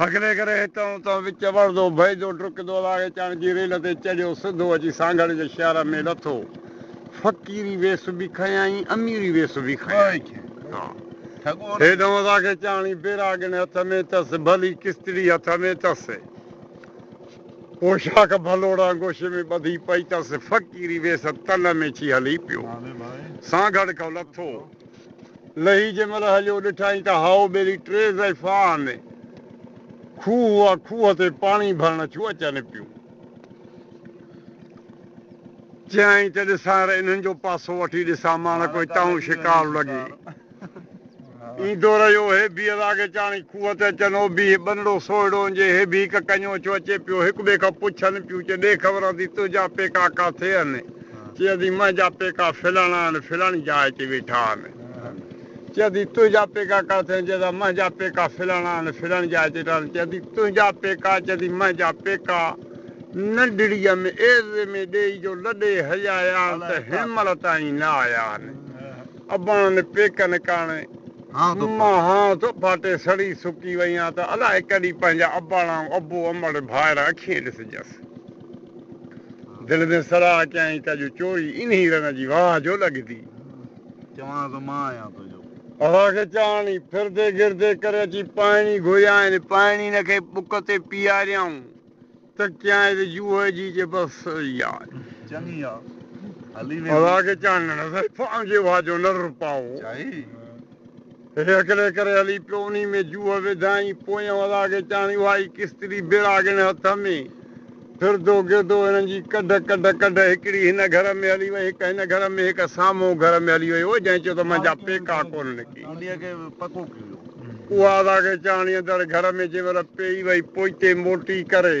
هڪڙي ڪري هتان هتان وچ وڙهندو، بيهندو، ڊڪندو لاڙي چاڻ جي ريل تي چڙهيو، سڌو اچي سانگهڙ جي شهر ۾ لٿو. فقيري ويس به کنيائين، اميري ويس به کنيائين. هيڏانهن ادا کي چاڻي بيراڳڻ هٿ ۾ اٿس، ڀلي ڪستڙي هٿ ۾ اٿس. پوشاڪ ڀلوڙان گوشي ۾ ٻڌي پئي اٿس. فقيري ويس تن ۾ ڇي هلي پيو. سانگهڙ کان لٿو. لهي جنهن مهل هليو، ڏٺائين ته هائو ٻيلي ٽي ضعيفا آن کوهه هئا، کوهه تي پاڻي ڀرڻ ٿيون اچن پيون. چيائين ته ڏسان ري انهن جو پاسو وٺي ڏسان ماڻڪ ڪوئي تائون شڪار لڳي. ايندو رهيو، هي به الاڳي چاڻي کوهه تي اچن، او به هي ٻنڙو سوئڙو انجي، هي به هڪ ڪنيو ڇو اچي پيو، هڪ ٻئي کان پڇن پيون، چي ڏيک ورندي تنهنجا پيڪا ڪاٿي هن؟ چيا ٿي منهنجا پيڪا فلاڻا آهن فلاڻي جاء تي ويٺا آهن چيا ٿي تنهنجا پيڪا ڪاٿي آهن چيا ٿا منهنجا پيڪا فلاڻا آهن فلاڻي جاء تي ويٺا آهن چيا ٿي تنهنجا پيڪا چيا ٿي منهنجا پيڪا ننڍڙيء ۾ ايذي ۾ ڏيئي جو لڏي هليا آيا آهن ته هن مهل تائين نه آيا آهن اباڻن پيڪن ڪاڻي مان هان ٿو ڦاٽي سڙي سڪي وئي آهيان ته الائي ڪڏهن پنهنجا اباڻا ۽ ابو امڙ ڀائر اکين ڏسجس. دل ۾ صلاح ڪيائين ته اڄ چوري انهي رن جي واهه جو لڳندي. چوانس ته مان آهيان تنهنجو. اسان کي چاڻي. ڦردي گردي ڪري اچي پاڻي گهريائين. پاڻي هن کي بک تي پياريائون ته چيائين ته جوهي جي جي بس سري آ. چڱي آ. هلي ويندي. اسان کي چاڻي. نظر پاء جي واهه جو نر پاء. چائي. هڪڙي ڪري هلي پيو، انهي ۾ جوهه وڌائين، پويان ولا کي چيائين، اها ئي ڪستري بيراڳڻ هٿ ۾. ڦردو گردو هنن جي ڪڍ ڪڍ ڪڍ، هڪڙي هن گهر ۾ هلي وئي، هڪ هن گهر ۾، هڪ سامهون گهر ۾ هلي وئي، اهي جنهن چيو ته منهنجا پيڪا ڪونه نڪي. اها ولا کي چيائين، اندر گهر ۾ جنهن مهل پيئي وئي، پوئتي موٽي ڪري.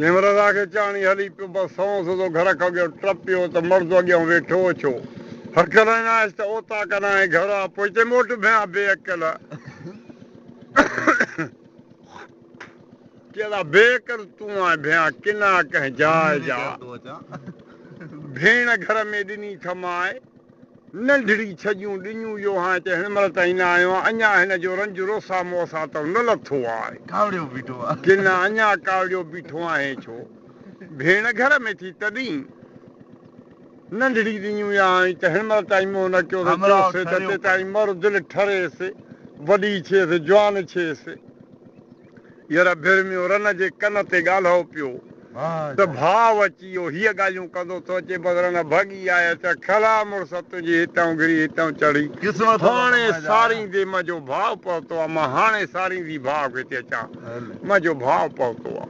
نمرده کي چاڻي هلي پيو، بس سنئون سڌو گهر کان اڳيان ٽپيو ته مرد اڳيان ويٺو هو، ڇو هرکي لهندائينس ته اوطاق ڏانهن ۽ گهر آ پوء هتي موٽ ڀيان بي عقل! چئي ٿا بي عقل تون آهين ڀيان ڪنا ڪنهن جاء جا، ڀيڻ گهر ۾ ڏني ٿمائي. ننڍڙي ڇڄون ڏنيون جو هانء ته هن مهل تائين نه آيو آهيان. اڃا هن جو رنج روسا موسا اتو نه لٿو آهي. ڪاوڙيو بيٺو آهي. ڪن اڃا ڪاوڙيو بيٺو آهين ڇو؟ ڀيڻ گهر ۾ ٿي تڏهين ننڍڙي ڏنيون يا هانء ته هن مهل تائين منهن نه ڪيو ته چوسين ته تيتائين مر دل ٺريس، وڏي ڇيس، جوان ڇيس. ير ڀرميو رن جي ڪن تي ڳالهئو پيو ته ڀاء اچي اهو هيء ڳالهيون ڪندو ٿو اچي بس رن ڀڳي آء اچان کلا مڙس تنهنجي هتئون گري هتئون چڙهي هاڻي ساريندي منهنجو ڀاء پهتو آ مان هاڻي ساريندي ڀاء کي ٿي اچان منهنجو ڀاء پهتو آ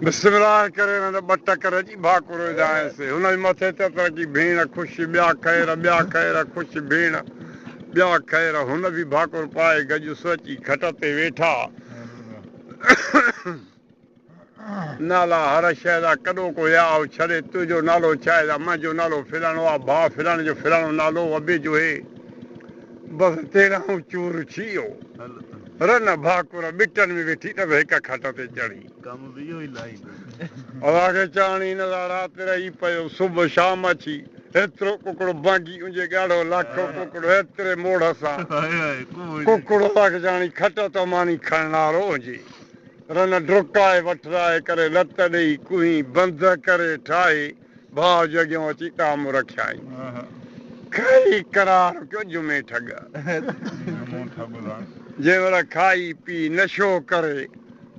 بسملاه ڪري رن ٻه ٽڪ رڄي ڀاڪو روئيندي آهيس هن جي مٿي تترڪي ڀيڻ خوش ٻيا خير ٻيا خير خوش ڀيڻ ٻيا خير هن به ڀاڪر پائي گجو سوچي کٽ تي ويٺا. نالا هر شيء جا ڪڏو ڪو يا او ڇڏي تنهنجو نالو ڇا اهي جا منهنجو نالو فلاڻو آ ڀاء فلاڻي جو فلاڻو نالو وبي جو هي بس تيرانهون چور ڇيئو رن ڀاڪر ٻٽن ۾ ويٺي ته به هڪ کٽ تي چڙهي اوهان کي چاڻي نه ته رات رهي پيو صبح شام اچي هيترو ڪڪڙو ڀنگي انجي ڳاڙهو لاکو ڪڪڙو هيتري موڙهه سان ڪڪڙو اوهان کي چاڻي کٽ تو ماني کڻڻهارو انجي رن ڊرڪائي وٺرائي ڪري لت ڏيئي ڪوهين بند ڪري ٺاهي ڀاء جي اڳيان اچي ڪام رکيائين. کائي قرار پيو جمي ٺڳ. جنهن مهل کائي پي نشو ڪري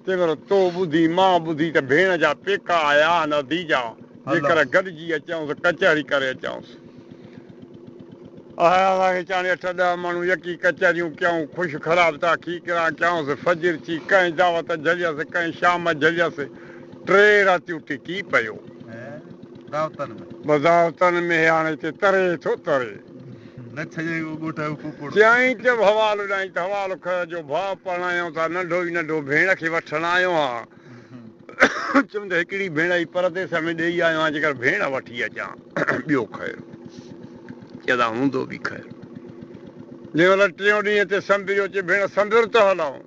تنهن مهل تو ٻڌي مان ٻڌي ته ڀيڻ جا پيڪا آيا آهن اديجا جيڪر گڏجي اچيائون ته ڪچهري ڪري اچيائونس. آيا اسان کي چاڻي اٺ ڏهه ماڻهو يڪي ڪچهريون ڪيائون خوش خراب تاخيڪران ڪيائونس فجر ٿي ڪنهن دعوت جهليس ڪنهن شام جهليس. ٽي راتيون ٽڪي پيو. بضاوطن ۾ هاڻي هتي تري ٿو تري. چيائين ته حوال اڏائين ته حوال کهه جو ڀاء پرڻايائون ٿا ننڍو ئي ننڍو ڀيڻ کي وٺڻ آيو آهيان. چيم ته هڪڙي ڀيڻ هي پرديس ۾ ڏيئي آيو آهيان جيڪر ڀيڻ وٺي اچان ٻيو خير. چيو ته هوندو به خير. جنهن مهل ٽيون ڏينهن تي سنبريو چي ڀيڻ سنبر ته هلئون.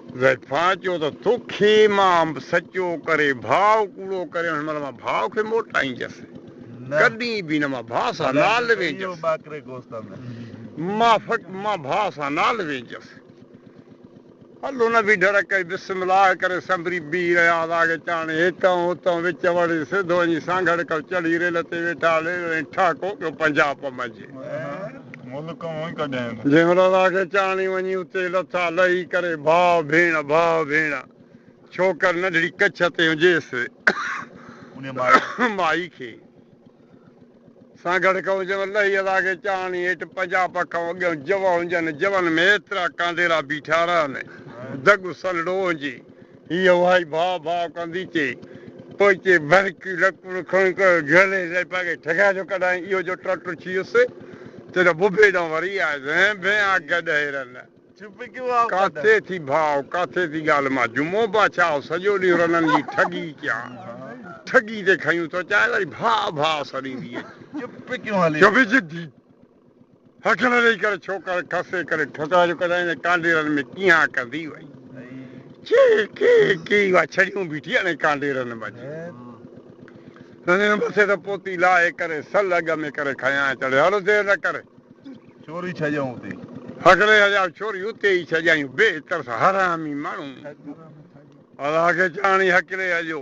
ضيفاء چيو ته توکي مان سچو ڪري ڀاء ڪوڙو ڪري هن مهل مان ڀاء کي موٽائينجس ڪڏهن به نه مان ڀاء سان نال وينجس مان ڀاء سان نال وينجس هل هن به ڍر ڪئي بسم الله ڪري سنڀري بيهي رهيا هئا اڳي چاڻي هتان هتان وچ وڙي سڌو وڃي سانگهڙ ڪو چڙهي ريل تي ويٺا ريل ۽ ٺهڪو پيو پنجاب منجهه جنهن مهل آخر چاڻي وڃي اتي لٿا، لهي ڪري ڀاء ڀيڻ، ڀاء ڀيڻ، ڇوڪر ننڍڙي ڪڇ تي هنجيس، مائي کي، سان گڏ ڪئون جنهن مهل لهي ادا کي چاڻي هيٺ پنجاهه پک کان اڳيان جوء هنجن، جوءن ۾ ايترا ڪانڊيرا بيٺا رهن، دڳ سنهڙو هنجي. هيء اهائي ڀاء ڀاء ڪندي چي پوئتي برڪي لڪڙ کڻي ڪري جهلي لئي پاڳي ٺڳائي جو ڪڏهن اهو جو ٽٽو ٿيس ته نه ببي ڏانهن وري آيس هين ڀين آ گڏهي رن ڪاٿي ٿي ڀاء ڪاٿي ٿي ڳالهه مان جمعو باڇائو سڄو ڏينهن رنن جي ٺڳي ڪيان ٺڳي تي کنيون ٿو چائي وري ڀاء ڀاء سڏيندي اچي چپ ضدي. هڪڙي رئي ڪري ڇوڪر کسي ڪري ٺڪرا جو ڪڍائين ۽ ڪانڊيرن ۾ ڪيهان ڪندي وئي. چي ڪي ڪي اها ڇڙيون بيٺي اڻي ڪانڊيرن مجي. رنين مٿي تان پوتي لاهي ڪري سل اڳ ۾ ڪري کنيان چڙهي هل دير نه ڪري. ڇوري ڇڄائون اتي. هڪڙي هجائو ڇوري اتي ئي ڇڄائون بي ترس حرامي ماڻهو. الله کي چاڻي هڪڙي هجو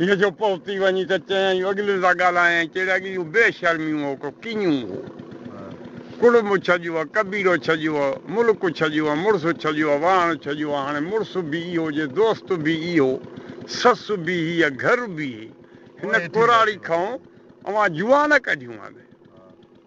هن جو پهتي وڃي ته چيائين، اڳلين سان ڳالهائين ۽ چيڙي اڳي اهو بي شرميون هو ڪو ڪيئون هو. ڪڙم ڇڄيو آ، قبيلو ڇڄيو آ، ملڪ ڇڄيو آ، مڙس ڇڄيو آ، واهڻ ڇڄيو آ، هاڻي مڙس به اهو جي دوست به اهو، سس به هيء، گهر به هي. هن ڪراڙي کائون اوهان جوئان نه ڪڍيون آهن.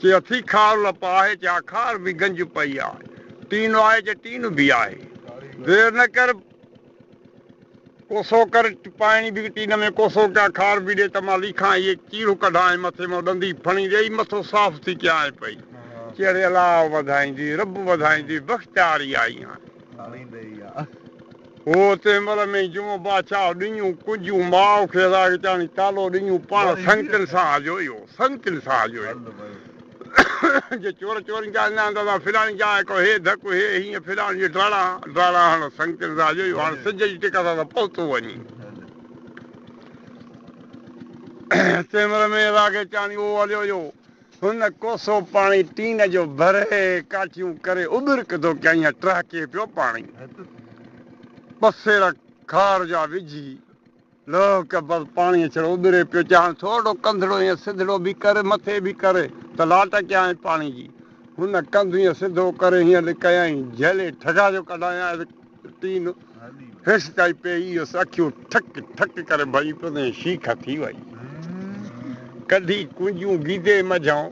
چي اٿي خار لپ آهي، چي آخار به گنج پئي آ، ٽين آهي چي ٽين به آهي، دير نه ڪر ڪوسو ڪر، پائڻي به ٽين ۾ ڪوسو ڪيا خار به ڏي ته مان ليکان اهي چيرو ڪڍانء مٿي مان ڏندي ڦڻي ڏئي مٿو صاف ٿي ڪيانء پئي، چي اڙي الله وڌائيندي، رب وڌائيندي، بخت آري آئي آهي. هو تنهن مهل ۾ ئي جمعو بادشاهه ڏڃون ڪنجون ماء کي راڳچاڻي ڪالو ڏڃون پاڻ سنگتن سان آيو اهو سنگتن سان آيو اهو جي چور چورين جا اڃا هوندا ته فلاڻي جا هڪ هي ڌڪ هي هيئن فلاڻي جي ڊاڙا ڊاڙا هڻ سنگتن سان آيو اهو هاڻ سج جي ٽڪ سان ته پهتو وڃي تنهن مهل ۾ ئي راڳچاڻي اهو هليو اهو هن ڪوسو پاڻي ٽين جو ڀري ڪاٺيون ڪري اٻرڪ ڌو ڪيائين ۽ ٽهڪي پيو پاڻي ٻه سير کار جا وجهي لهڪ بس پاڻي ڇڙو اٻري پيو چاهن ٿورڙو ڪنڌڙو ائين سڌڙو به ڪري مٿي به ڪري ته لاٽ ڪيائين پاڻي جي هن ڪنڌ ائين سڌو ڪري هيئن لڪايائين جهلي ٺڳا جو ڪڍايائين تين هيس ڪائي پيئي هيس اکيون ٺڪ ٺڪ ڪري ڀري پيو تين شيخ ٿي وئي ڪڍي ڪنجون گيدي مجهان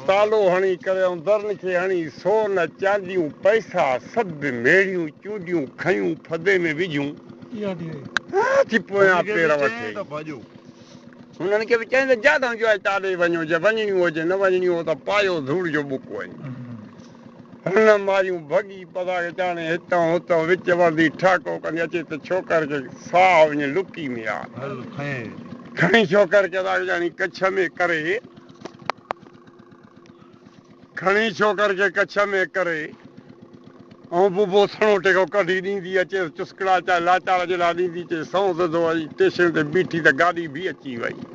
تالو هڻي ڪريون درن کي هڻي سون چانديون پئسا سڀ ميڙيون چونڊيون کنيون ڦدي ۾ وجهيون ٿي پويان پير وٺي هنن کي به چئين ته جاڏو جو آهي تاڏي وڃو جي وڃڻيون هجي نه وڃڻيون هو ته پايو ڌوڙ جو ٻڪ وڃي هن ماريون ڀڳي پزا وچاڻي هتان هتان وچ وردي ٺاڪو ڪندي اچي ته ڇوڪر کي ساهه وڃي لڪي ۾ آ. کڻي ڇوڪر کي پزا وچاڻي ڪڇ ۾ ڪري. کڻي ڇوڪر کي ڪڇ ۾ ڪري ۽ ببو سڻو ٽيڪو ڪڍي ڏيندي اچيس چسڪڙا چاهي لاچار جيڏا ڏيندي چي سنئون سڌو اچي ٽيشن تي بيٺي ته گاڏي ڀي اچي وئي.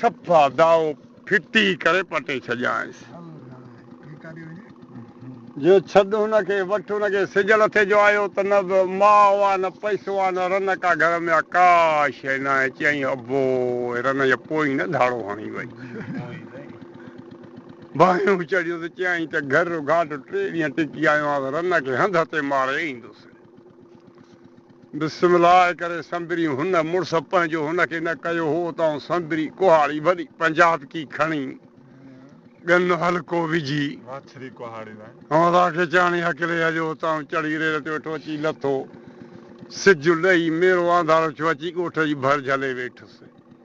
صفا دائو ڦٽي ڪري پٽي ڇڏيائينس. جو ڇڏ هن کي، وٺ هن کي. سج لٿي جو آيو ته نه به ماء آ، نه پئسو آ، نه رنڪ آ گهر ۾، ڪا شيء ناهي. چيائين ابو، رنه جي پوئين نه ڌاڙو هڻي وئي. باهيون چڙهيو ته چيائين ته گهر گهاٽ ٽي ڏينهن ٽڪي آيو آهيان، رنه کي هنڌ تي ماري ايندس. بسم الله ڪري سندري هن مڙس پنهنجو هن کي نه ڪيو هو ته آئون سندري ڪهاڙي وڏي پنجاتڪي کڻي ڳن هلڪو وجهي هنولا کي چاڻي هڪلي هليو ته آئون چڙهي ريل تي ويٺو اچي لٿو سج لهي ميرو آنڌارو ٿيو اچي ڳوٺ جي ڀر جهلي ويٺس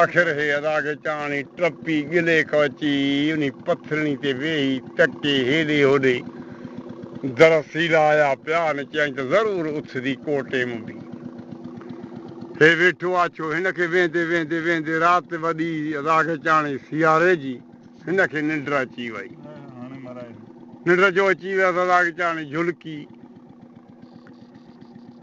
آخر هي ادا کي چاڻي ٽپي ڳلي ڪو اچي انهي پٿرڻي تي ويهي تڪي هيڏي هوڏي درس هيلايا پيا ۽ چيائين ته ضرور اٿندي ڪوٽي م به هي ويٺو آ ڇو هن کي ويهندي ويهندي ويهندي رات وڏي ادا کي چاڻي سياري جي هن کي ننڊ اچي وئي ننڊ جو اچي ويس ادا کي چاڻي جهلڪي.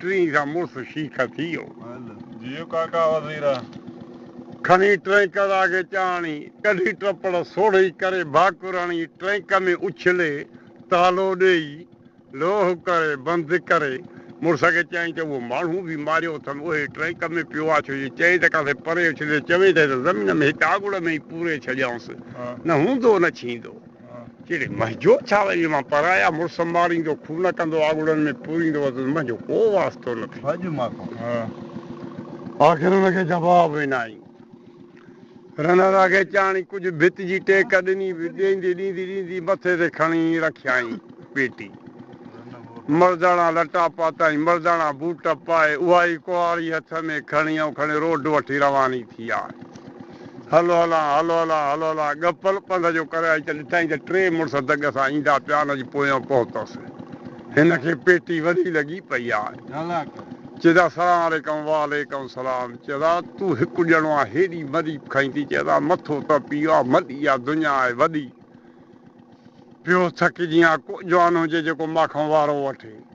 ٽرين کان مڙس شيخ ٿي ويو. جيئو ڪاڪا وزير. کڻي ٽرينڪر آگي چاڙهڻي، ڪڍي ٽپڙ سوڙهي ڪري ڀاڪر هڻي ٽرينڪ ۾ اڇلي تالو ڏيئي لوهه ڪري بند ڪري مڙس کي چيائين ته اهو ماڻهو به ماريو اٿن اهي ٽرينڪ ۾ پيو آ ڇو جي چئين ته ڪاٿي پري اڇلي چوين ته هن زمين ۾ هڪ آڳوڙ ۾ ئي پوري ڇڏيائونس نه هوندو نه ڇيندو. ڪهڙي منهنجو ڇا وڃي مان پرايا مڙس سنڀاريندو کون نه ڪندو آڳڙن ۾ پوريندو وزن منهنجو ڪو واسطو نه ٿي ڀڄ مان کان آخر ان کي جواب ڏنائين رنر اگهي چاڻي ڪجهه ڀت جي ٽيڪ ڏني ڏيندي ڏيندي ڏيندي مٿي تي کڻي رکيائين پيٽي مرداڻا لٽا پاتائين مرداڻا بوٽ پائي اها ئي ڪهاڙي هٿ ۾ کڻي ائون کڻي روڊ وٺي رواني ٿي آهي. هلو هلان، هلو هلان، هلو هلان، ڳپل پنڌ جو ڪري آئي ته ڏٺائين ته ٽي مڙس دڳ سان ايندا پيا هن جي پويان پهتس. هن کي پيٽي وڏي لڳي پئي آ. چيس آ سلام عليڪم، وعليڪم سلام، چيس آ تون هڪ ڄڻو آ هيڏي مريب کئين ٿي، چيس آ مٿو ته پيء آ مڏي آ دنيا آهي وڏي، پيو ٿڪجين آ ڪو جوان هجي جيڪو مان کان وارو وٺي.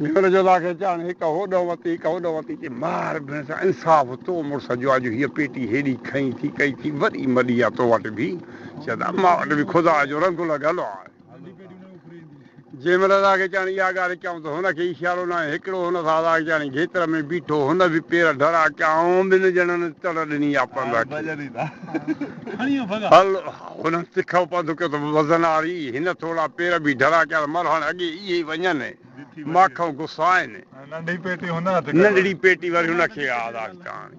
مير جولا کي چيائون، هڪ هوڏو وتي، هڪ هوڏو وتي چي مار بيڻ سان انصاف تو مڙس جو آ جو هيء پيٽي هيڏي کنئي ٿي ڪئي ٿي وري مڏي آ تو وٽ به، شايد اما وٽ به خدا جو رنگ لڳل آ. جيمل آزاد کي چيائون، اها ڳالهه ڪيائون ته هن کي اشارو ناهي هڪڙو هن سان آزاد کي چيائون، گيتر ۾ بيٺو هن به پير ڍرا ڪيائون ٻن ڄڻن تڙ ڏني آ پنڌ کي. هل! هن تکو پنڌ ڪيو ته وزن آري هن ٿورا پير به ڍرا ڪيا ته مرهڻ اڳي ئي هي وڃن ماکئون گسائين. ننڍڙي پيٽي وري هن کي ياد آئي چاڻي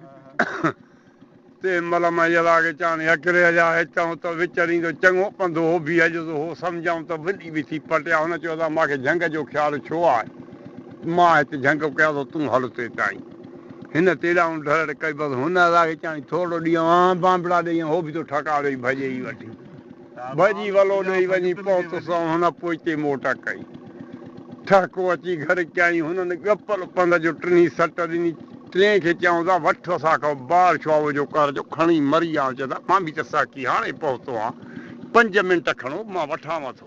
تي ملم ۽ يلا کي چاڻي هڪري هليا هتئون ته وچريندو چڱو پنڌ هو به هليو هو سمجهيائون ته وڏي به ٿي پٽيا هن چيو ادا ماکي جهنگ جو خيال ڇو آهي مان هت جهنگ ڪيا ٿو تون هل تيتائين. هن تيڏانهن ڍرڙ ڪئي، بس هن الاهي چيائين، ٿورڙو ڏينهن آن بانبڙا ڏئي ۽ هو به تو ٺڪاء ڏئي ڀڄي ئي وٺي. ڀڄي ولو ڏئي وڃي پهتس ۽ هن پوئتي موٽ ڪئي. ٺهڪو اچي گهر ڪيائين. هنن ڳپل پنڌ جو ٽنهي سٽ ڏني. ٽئين کي چيائون ته وٺ اسان کان بار شعاوء جو قهر جو کڻي مري آ. چيو ته مان به ته سهڪي هاڻي پهتو آن. پنج منٽ کڻو، مان وٺانو ٿو.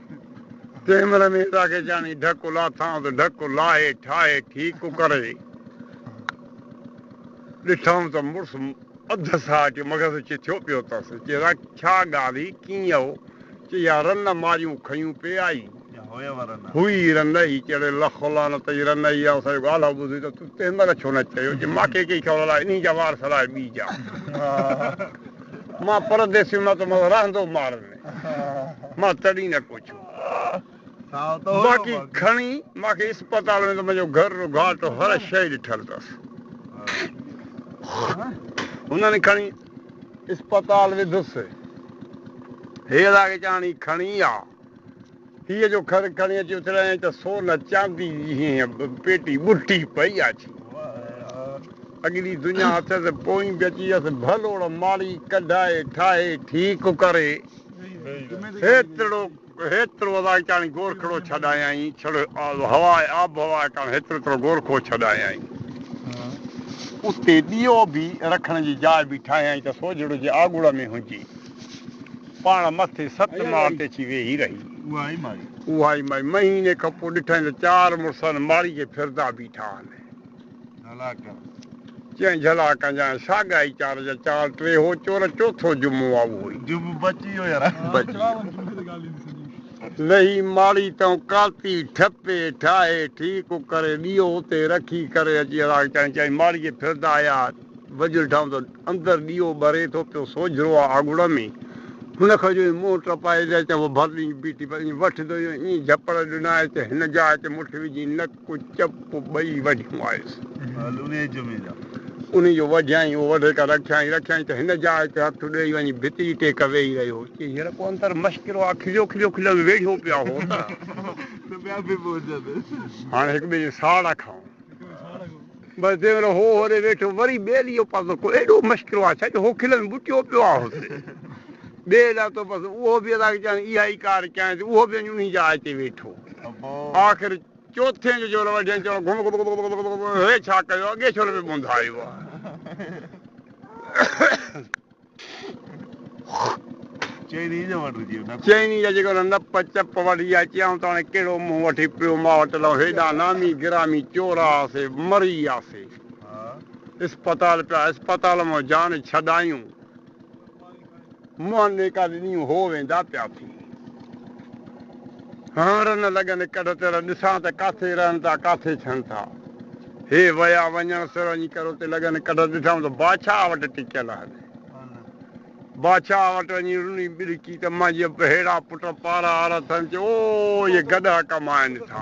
تنهن مهل ميرزا کيچاڻي ڍڪ لاٿائون ته ڍڪ لاهي ٺاهي ٺيڪ ڪڪر جي ڏٺائون ته مڙس اڌ ساهه اچي مغز چي ٿيو پيو اٿس. چي رک ڇا ڳالهه هئي ڪيئن هو؟ چي يا رن ماريون کنيون پي آئي هئي ئي رن نه هئي. چي اڙي لخ و لعنت جي رن هئي آئون ساريون ڳالهه ٻڌي ته تون تنهن مهل ڇو نه چيو؟ چي ماکي ڪئي خبر الاء انهي جا وار سلاء ٻي جا مان پرديسيء مان ته مس رهندو مارن ۾. مان تڏهن نه ڪوڇيو. باقي کڻي مان کي اسپتال ۾ ته منهنجو گهر رو گهاٽو هر شيء ڏٺل اٿس. هنن کڻي اسپتال وڌس. هيرا کي چيائين هي کڻي آ. هيء جو کر کڻي اچي اٿرايائين ته سون چاندي جي هينهن پيٽي ٻٽي پئي اچي اڳلي دنيا اٿس، پوئين به اچي ويس ڀلوڙ ماڙي ڪڍائي ٺاهي ٺيڪ ڪري هيترو هيترو الاهي ڪاڻي گورکڙو ڇڏايائين ڇڙ هوا آبهوا ڪاڻي هيترو هيترو گورکو ڇڏايائين اتي ڏيئو به رکڻ جي جاء به ٺاهيائين ته سوجهڙو جي آڳوڙ ۾ هجي. پاڻ مٿي ست ماڙ تي اچي ويهي رهي. اها ئي ماڙي. مهيني کن پوء ڏٺائين ته چار مڙس ان ماڙي کي ڦرندا بيٺا آهن. چيائين جهلا ڪن جانء. ساڳيا ئي چار جا چار ٽيهو چور چوٿو جمعو آ اهو ئي. بچي ويو. لهي ماڙي تئون ڪاتي ٺپي ٺاهي ٺيڪ ڪري ڏيئو اتي رکي ڪري اچي هلاڪ. چيائين ماڙي کي ڦرندا آيا. وجهل ٺاهون ته اندر ڏيئو ٻري ٿو پيو سوجهرو آ آڳوڙ ۾، هن کان جو ايئن منهن ٽپائي جاء چئه هو ڀرت ايئن بيٺي پر ايئن وٺ ڌوئي ۽ ايئن جهپڙ ڏنا آء چئه هن جاء چئه مٺ وجهي نڪ چپ ٻئي وڍيون آيس. انهي جو وڍيائين اهو وڍي ڪا رکيائين رکيائين ته هن جاء چئه هٿ ڏئي وڃي ڀت جي ٽيڪ ويهي رهيو چئه هينئر ڪو اندر مشڪرو آ کليو کليو کليو ۾ ويڙهيون پيا هو ته هاڻ هڪٻئي جي ساڙ کائون. بس جنهن مهل هو هوڏي ويٺو، وري ٻيلي جو پردو ڪو ايڏو مشڪل آهي ڇا جو هو کلن ۾ ٻٽيو پيو آهي هتي ٻيلي لاء تو بس اهو به ادا ڪيائين اها ئي ڪار ڪيائين ته اهو به وڃي انهي جاء تي ويٺو آخر چوٿين جو جهل وڍين چيو گهم گهم گهم گهم گهم هي ڇا ڪيو اڳي ڇو نه پيو ٻونڌايو ها. چئني جا جيڪو نه نپ چپ وٺجي ها چيائون ته هاڻي ڪهڙو منهن وٺي پيو ماء وٽ لئو هيڏا نامي گرامي چور آسي مري آسي اسپتال پيا اسپتال مان جان ڇڏايون منهن نيڪا ڏنيون هو ويندا پيا ٿي هنر نه لڳن ڪڍ تير ڏسان ته ڪاٿي رهن ٿا ڪاٿي ڇن ٿا. هي ويا وڃڻ سر وڃي ڪرو تي لڳن ڪڍ ڏٺائون ته بادشاهه وٽ ٽڪيل آهن. بادشاهه وٽ وڃي رني ٻرڪي ته مانجهيء بهيڙا پٽ پارا آرا ٿن چي او اهي گڏها ڪم آهن ٿا.